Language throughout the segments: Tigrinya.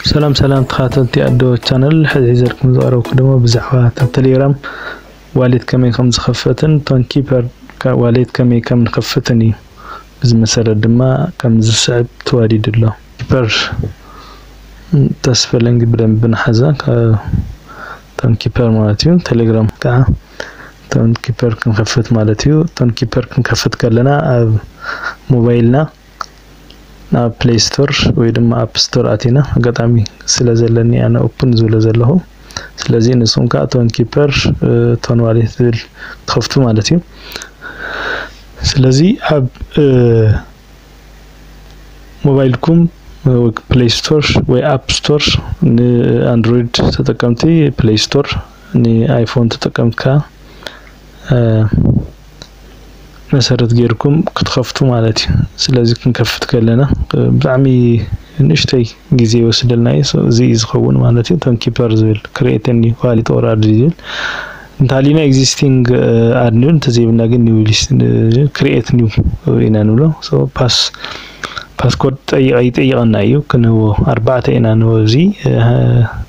ሰላም ሰላም ተኻታተልቲ ኣዶ ቻነል ሕዚ ሒዘልኩም ዝቐረብኩ ድማ ብዛዕባ እታ ቴሌግራም ዋሌት ከመይ ከም ዝኸፈትን እቶን ኪፐር ዋሌት ከመይ ከም ንኸፍትን እዩ። እዚ መሰረት ድማ ከም ዝስዕብ ተዋዲዱ ኣሎ። ኪፐር ተስፈለንግ ብደንብ ንሓዛ እቶን ኪፐር ማለት እዩ። ቴሌግራም ከዓ እቶን ኪፐር ክንከፍት ማለት እዩ። እቶን ኪፐር ክንከፍት ከለና ኣብ ሞባይልና ናብ ፕለይ ስቶር ወይ ድማ ኣፕ ስቶር ኣቲና ኣጋጣሚ ስለ ዘለኒ ኣነ ኦፕን ዝብሎ ዘለኹ ስለዚ ንስኹም ከዓ ቶን ኪፐር ቶን ዋሌት ዝብል ትኸፍቱ ማለት እዩ ስለዚ ኣብ ሞባይልኩም ፕሌይ ስቶር ወይ ኣፕ ስቶር ንኣንድሮይድ ተጠቀምቲ ፕሌይ ስቶር ንኣይፎን ተጠቀምቲ ከዓ መሰረት ጌርኩም ክትከፍቱ ማለት እዩ ስለዚ ክንከፍት ከለና ብጣዕሚ ንእሽተይ ግዜ ይወስደልና እዩ እዚ እዩ ዝኸውን ማለት እዩ እቶም ኪፐር ዝብል ክሬት ኒው ኳሊቲ ኦር ኣድ ዝብል እንተሃሊና ኤግዚስቲንግ ኣድ ኒው እንተዘይብልና ግን ኒው ክሬት ኒው ኢና ንብሎ ፓስ ፓስኮድ ጠይቀ ይጠይቀና እዩ ክንህቦ ኣርባዕተ ኢና ንህቦ እዚ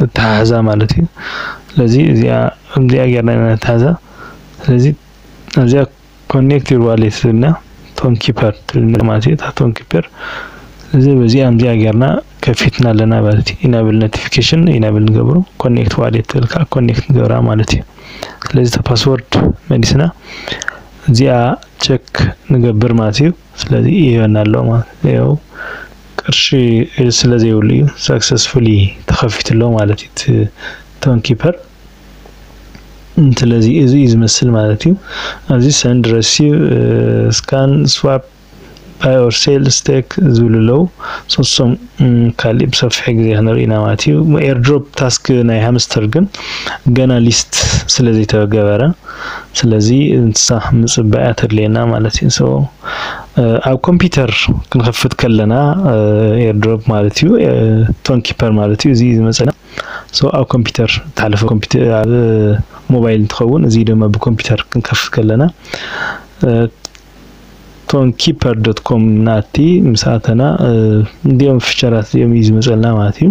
ነተሓሕዛ ማለት እዩ። ስለዚ እዚኣ ከምዚኣ ጌርና ኢና ነተሓሕዛ። ስለዚ ኣብዚኣ ኮኔክት ዩር ዋሌት ትብልና ቶን ኪፐር ትብልና ማለት እዩ። እታ ቶን ኪፐር እዚ በዚኣ ከምዚኣ ጌርና ከፊትና ኣለና ማለት እዩ። ኢናብል ኖቲፊኬሽን ኢናብል ንገብሮ ኮኔክት ዋሌት ትብል ከዓ ኮኔክት ንገብራ ማለት እዩ። ስለዚ እታ ፓስወርድ መሊስና እዚኣ ቸክ ንገብር ማለት እዩ። ስለዚ ይህበና ኣሎ ማለት እዩ። ያው ቅርሺ ስለ ዘይብሉ እዩ ሳክሰስፉሊ ተኸፊቱ ኣሎ ማለት እዩ እቲ ቶን ኪፐር። ስለዚ እዚ እዩ ዝመስል ማለት እዩ። ኣብዚ ሰንድ ረሲቭ ስካን ስዋፕ ባይ ኦር ሴል ስቴክ ዝብሉ ኣለዉ ሶስም ካሊእ ብሰፊሑ ግዜ ክንርኢ ኢና ማለት እዩ። ኤርድሮፕ ታስክ ናይ ሃምስተር ግን ገና ሊስት ስለ ዘይተገበረ ስለዚ እንስሳ ምጽባ እያ ተድልየና ማለት እዩ። ሶ ኣብ ኮምፒውተር ክንኸፍት ከለና ኤርድሮፕ ማለት እዩ ቶን ኪፐር ማለት እዩ እዚ ዝመጸና ሶ ኣብ ኮምፒውተር ተሓለፈ ኮምፒውተር ኣብ ሞባይል እንትኸውን እዚ ድማ ብኮምፒውተር ክንከፍት ከለና ቶን ኪፐር ዶት ኮም ናቲ ምስ ኣተና እንዲኦም ፊቸራት እዚኦም እዩ ዝመፀልና ማለት እዩ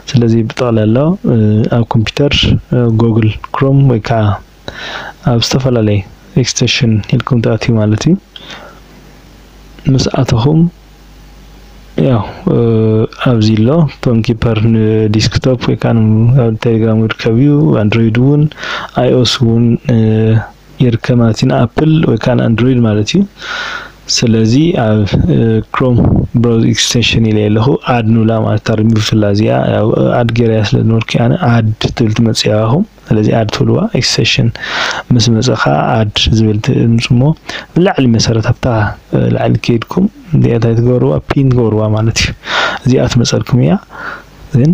ስለዚ ብጠቕላላ ኣብ ኮምፒውተር ጎግል ክሮም ወይ ከዓ ኣብ ዝተፈላለየ ኤክስቴንሽን ኢልኩም ትኣትዩ ማለት እዩ ምስ ኣተኹም ያው ኣብዚ ኣሎ ቶን ኪፐር ንዲስክቶፕ ወይ ከዓ ኣብ ቴሌግራም ይርከብ እዩ ኣንድሮይድ እውን ኣይኦስ እውን ይርከብ ማለት እዩ ንኣፕል ወይ ከዓ ንኣንድሮይድ ማለት እዩ ስለዚ ኣብ ክሮም ብራውዝ ኤክስቴንሽን ኢለ ኣለኹ ኣድ ንብላ ማለት እታ ሪሙቭ ትብላ እዚኣ ያው ኣድ ገይረያ ስለ ዝነበርኩ ኣነ ኣድ ትብል ትመፅእ ያባኹም ስለዚ ኣድ ትብልዋ ኤክስቴንሽን ምስ መፀ ከዓ ኣድ ዝብል ትምፁ እሞ ብላዕሊ መሰረት ኣብታ ላዕሊ ከይድኩም እዚኣ እንታይ ትገብርዋ ፒን ትገብርዋ ማለት እዩ እዚኣ ትመፀልኩም እያ ግን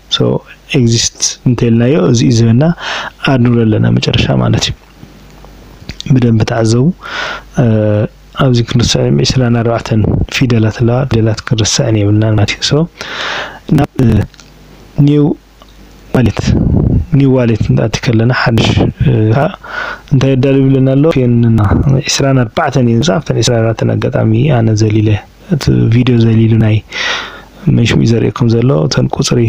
ሶ ኤግዚስት እንተልናዮ እዚ እዩ ዝህበና ኣድ ንብሎ ኣለና መጨረሻ ማለት እዩ ብደንብ ተዓዘቡ ኣብዚ ክንርስዕ ዕስራን ኣርባዕተን ፊደላት ኣለዋ ፊደላት ክንርስዕን የብልናን ማለት እዩ ሶ ናብ ኒው ዋሌት ኒው ዋሌት ንኣቲ ከለና ሓድሽ ከዓ እንታይ የዳልዩ ብለና ኣሎ ፔንና ዕስራን ኣርባዕተን እዩ ዝብፃ ኣብተን ዕስራን ኣርባዕተን ኣጋጣሚ ኣነ ዘሊለ እቲ ቪድዮ ዘሊሉ ናይ መንሽኡ እዩ ዘርእየኩም ዘሎ እተን ቁፅሪ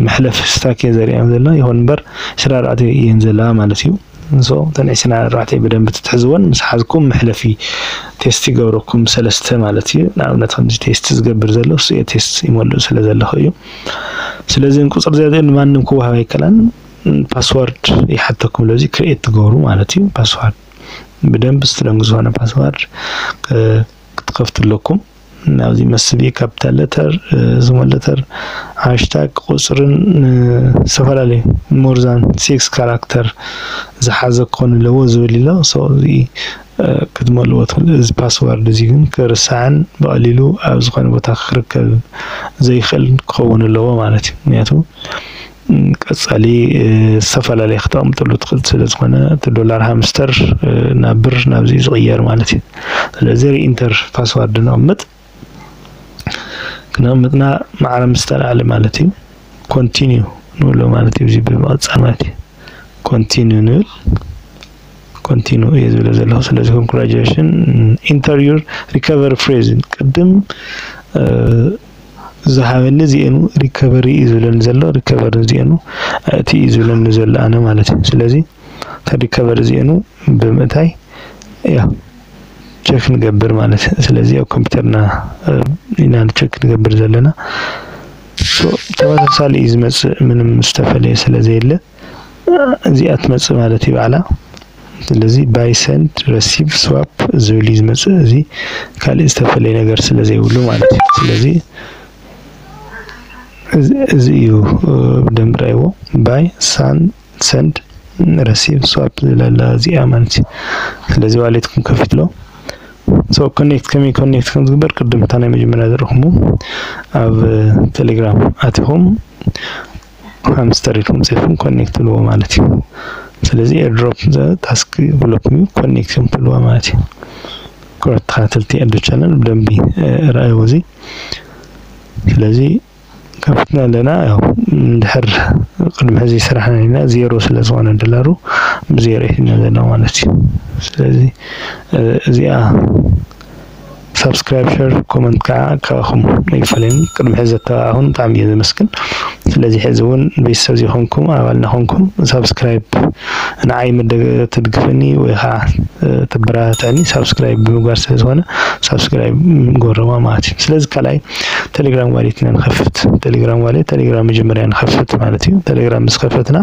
መሕለፍ ስታክ እየ ዘርእየን ዘሎ ይኹን እምበር ዕስራ ኣርባዕተ እየን ዘለዋ ማለት እዩ ንሶ እተን ዕስራ ኣርባዕተ ብደንብ ትትሕዝወን ምስ ሓዝኩም መሕለፊ ቴስት ይገብረኩም ሰለስተ ማለት እዩ ንኣብነት ከምዚ ቴስት ዝገብር ዘሎ እሱ እየ ቴስት ይመልእ ስለ ዘለኹ እዩ ስለዚ ቁፅሪ ዘርእየን ንማንም ክወሃብ ኣይከላን ፓስዋርድ ይሓተኩም ለዚ ክሬኤት ትገብሩ ማለት እዩ ፓስዋርድ ብደንብ ስትረንግ ዝኾነ ፓስዋርድ ክትከፍቱ ኣለኩም ናብዚ መስቢ ካፒታል ለተር ስሞል ለተር ሃሽታግ ቁፅርን ዝተፈላለዩ ሞርዛን ሲክስ ካራክተር ዝሓዘ ክኾን ኣለዎ ዝብል ኣሎ ሶ እዚ ክትመልዎ ትኽእሉ እዚ ፓስዋርድ እዚ ግን ክርሳዕን ብቐሊሉ ኣብ ዝኾነ ቦታ ክርከብ ዘይኽእል ክኸውን ኣለዎ ማለት እዩ ምክንያቱ ቀጻሊ ዝተፈላለየ ክተቕምጥሉ ትኽእል ስለ ዝኾነ እቲ ዶላር ሃምስተር ናብ ብር ናብዚ ዝቕየር ማለት እዩ ስለዚ ሪኢንተር ፓስዋርድ ነቕምጥ ክነቕምጥና ማዕረ ምስ ተላዕለ ማለት እዩ ኮንቲኒዩ ንብሎ ማለት እዩ እዚ ብምቕጻል ማለት እዩ ኮንቲኒዩ ንብል ኮንቲኑ እየ ዝብለ ዘለኹ ስለዚ ኮንግራጁሌሽን ኢንተርዩር ሪከቨሪ ፍሬዝ ቅድም ዝሃበኒ እዚኤኑ ሪከቨሪ እዩ ዝብለኒ ዘሎ ሪከቨሪ እዚኤኑ ኣእቲ እዩ ዝብለኒ ዘሎ ኣነ ማለት እዩ ስለዚ ከሪከቨሪ እዚኤኑ ብምእታይ ያ ቸክ ንገብር ማለት ስለዚ ኣብ ኮምፒውተርና ኢና ቸክ ንገብር ዘለና ተመሳሳሊ እዩ ዝመፅእ ምንም ዝተፈለየ ስለ ዘየለ እዚኣ ትመጽእ ማለት እዩ ባዕላ ስለዚ ባይ ሰንድ ረሲቭ ስዋፕ ዝብል እዩ ዝመጽእ እዚ ካልእ ዝተፈለየ ነገር ስለ ዘይብሉ ማለት እዩ ስለዚ እዚ እዩ ብደንብ ራይዎ ባይ ሳን ሰንድ ረሲቭ ስዋፕ ዝብል ኣላ እዚኣ ማለት እዩ ስለዚ ዋሌትኩም ከፊትሎ ሶ ኮኔክት ከመይ ኮኔክት ከም ዝግበር ቅድም እታ ናይ መጀመርያ ዘረኹሙ ኣብ ቴሌግራም ኣቲኹም ሃምስተር ኢልኩም ጽሒፍኩም ኮኔክት ትብልዎ ማለት እዩ ስለዚ ኤርድሮፕ ታስክ ብሎክም እዩ ኮኔክት እዮም ትብልዋ ማለት እዩ ኩራት ተኸታተልቲ ኣዶ ቻነል ብደንቢ ርኣይዎ እዚ ስለዚ ከፍትና ኣለና ያው እንድሕር ቅድሚ ሕዚ ስራሕና ኢና ዜሮ ስለ ዝኾነ ዶላሩ ብዜሮ ይሕና ዘሎ ማለት እዩ ስለዚ እዚኣ ሳብስክራይብ ሸር ኮመንት ከዓ ካባኹም ኣይፈለየን ቅድሚ ሕዚ ዘተባባዕኹም ብጣዕሚ እየ ዘመስግን ስለዚ ሕዚ እውን ቤተሰብ ዘይኮንኩም ኣባል ናኾንኩም ሳብስክራይብ ንዓይ ትድግፈኒ ወይ ከዓ ተበረታትዐኒ ሳብስክራይብ ብምግባር ስለ ዝኾነ ሳብስክራይብ ንገብረዋ ማለት እዩ ስለዚ ካልኣይ ቴሌግራም ዋሌት ኢና ንኸፍት ቴሌግራም ዋሌት ቴሌግራም መጀመርያ ንኸፍት ማለት እዩ ቴሌግራም ምስ ከፈትና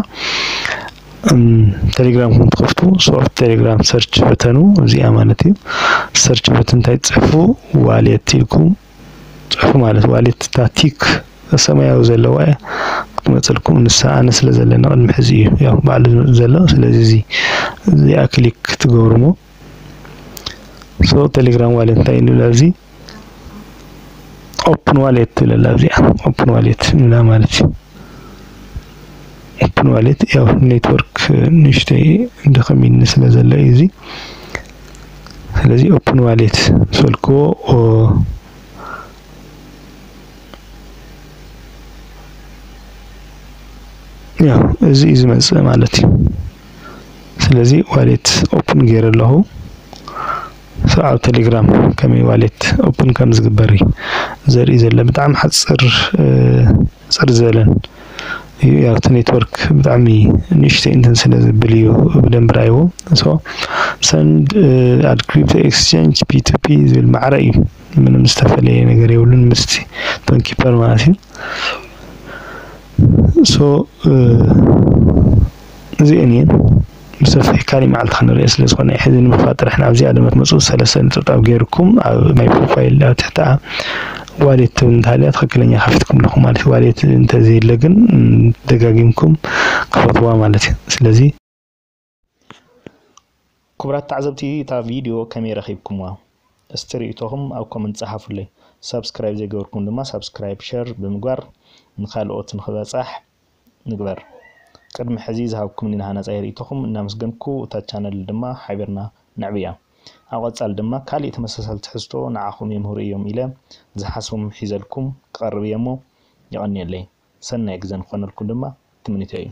ቴሌግራም ከም ትኸፍቱ ሶርት ቴሌግራም ሰርች በተኑ እዚኣ ማለት እዩ ሰርች በተን እንታይ ትፅሕፉ ዋሌት ኢልኩም ፅሑፉ ማለት ዋሌት እታ ቲክ ሰማያዊ ዘለዋ እያ ክትመፀልኩም ንሳ ኣነ ስለ ዘለና ቅድሚ ሕዚ እዩ ያው ባዕሉ ዘሎ ስለዚ እዚ እዚኣ ክሊክ ትገብሩ እሞ ሶ ቴሌግራም ዋሌት እንታይ እዩ ንብላ እዚ ኦፕን ዋሌት ትብል ኣላ እዚኣ ኦፕን ዋሌት ንብላ ማለት እዩ ኦፕን ዋሌት ያው ኔትወርክ ንእሽተይ ድኽም ኢልኒ ስለ ዘሎ እዩ እዚ ስለዚ ኦፕን ዋሌት ሰልክዎ ያው እዚ እዩ ዝመፅእ ማለት እዩ ስለዚ ዋሌት ኦፕን ገይረ ኣለኹ ሶ ኣብ ቴሌግራም ከመይ ዋሌት ኦፕን ከም ዝግበር እዩ ዘርኢ ዘሎ ብጣዕሚ ሓፅር ፅር ዝበለን እዩ ያው እቲ ኔትወርክ ብጣዕሚ ንእሽተይ እንትን ስለ ዝብል እዩ ብደንቢ ርኣይዎ ሶ ሰንድ ኣድ ክሪፕቶ ኤክስቼንጅ ፒቱፒ ዝብል ማዕረ እዩ ምንም ዝተፈለየ ነገር የብሉን ምስቲ ቶን ኪፐር ማለት እዩ ሶ እዚኤን እየን ብሰፊሕ ካሊእ መዓልቲ ክንሪኤ ስለ ዝኾነ እዩ ሕዚ ንምክፋት ጥራሕ ናብዚኣ ድማ ትመፁ ሰለስተ ንጥብጣብ ገይርኩም ኣብ ናይ ፕሮፋይል ኣብ ትሕቲኣ ዋሌት ትብል እንተሃልያ ትክክለኛ ከፊትኩም ኣለኹም ማለት እዩ ዋሌት እንተዘየለ ግን ደጋጊምኩም ክፈትዋ ማለት እዩ ስለዚ ክቡራት ተዓዘብቲ እታ ቪድዮ ከመይ ረኺብኩምዋ እስቲ ርእይቶኹም ኣብ ኮመንት ጸሓፉለይ ሳብስክራይብ ዘይገበርኩም ድማ ሳብስክራይብ ሸር ብምግባር ንካልኦት ንክበጻሕ ንግበር። ቅድሚ ሕዚ ዝሃብኩምኒ ሃናጻይ ርእይቶኹም እናመስገንኩ እታ ቻነል ድማ ሓቢርና ነዕብያ። ኣብ ቐጻሊ ድማ ካሊእ ተመሳሳሊ ትሕዝቶ ንዓኹም የምህሩ እዮም ኢለ ዝሓስቦም ሒዘልኩም ክቐርብ እየ'ሞ የቐንየለይ። ሰናይ ግዘ ንክኾነልኩም ድማ ትምኒተይ እዩ።